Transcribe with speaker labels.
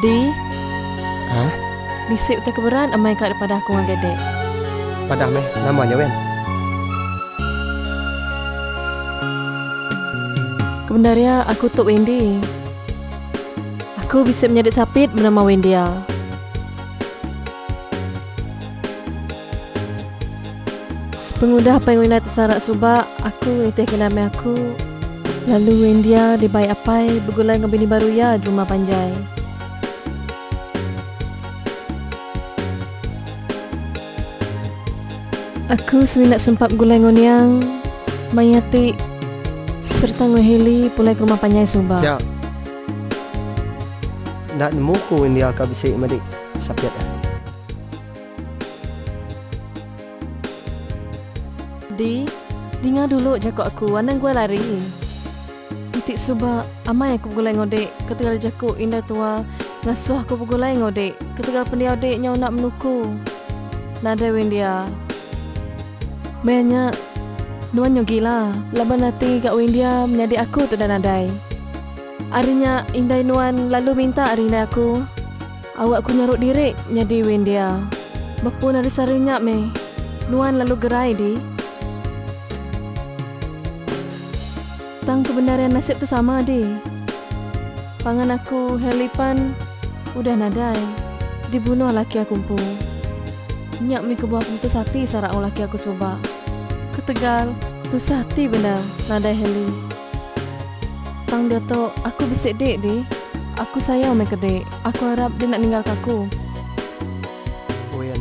Speaker 1: Di. Hah? Bisi utai ke beran amai ka dipadah aku ngagai dek. Padah meh, nama nya wen? Kebendar iya, aku tu Wendy. Aku bisi menyadi sapit benama Wendia. Pengudah pai Wenda tesarak suba, aku nitihka nama aku. Lalu Wendia dibai apai begulai enggau bini baru iya di rumah panjai. Aku semina sempat begulai enggau niang, maya ti sereta enggau Hailey pulai ke rumah panjai suba. Nya. Enda nemu ku Wendia ka bisi madi. Sapit eh. Di, dinga dulu jako aku anang guai lari. Iti suba amai aku begulai enggau dik ketegal jako indai tua ngasoh aku begulai enggau dik ketegal pendiau dik nyau enda menuku. Nadai Windia. Meh nya, nuan nyau gila laban ati ga Windia menyadi aku tudah nadai. Ari nya, indai nuan lalu minta ari indai aku, awak aku nyaru diri nyadi win dia. Bepun ari sehari nya meh, nuan lalu gerai di. Tang kebendarian nasib tu sama di. Pangan aku, Heli pan udah nadai, dibunuh laki aku empu. Nya meh kebuah aku putus ati sara enggau laki aku suba. Ketegal, tusah ati bendar nadai Heli. Tang diatu, aku bisi dik dih. Aku sayau meh ke dik. Aku arap dih nak ninggalka aku. Oyan.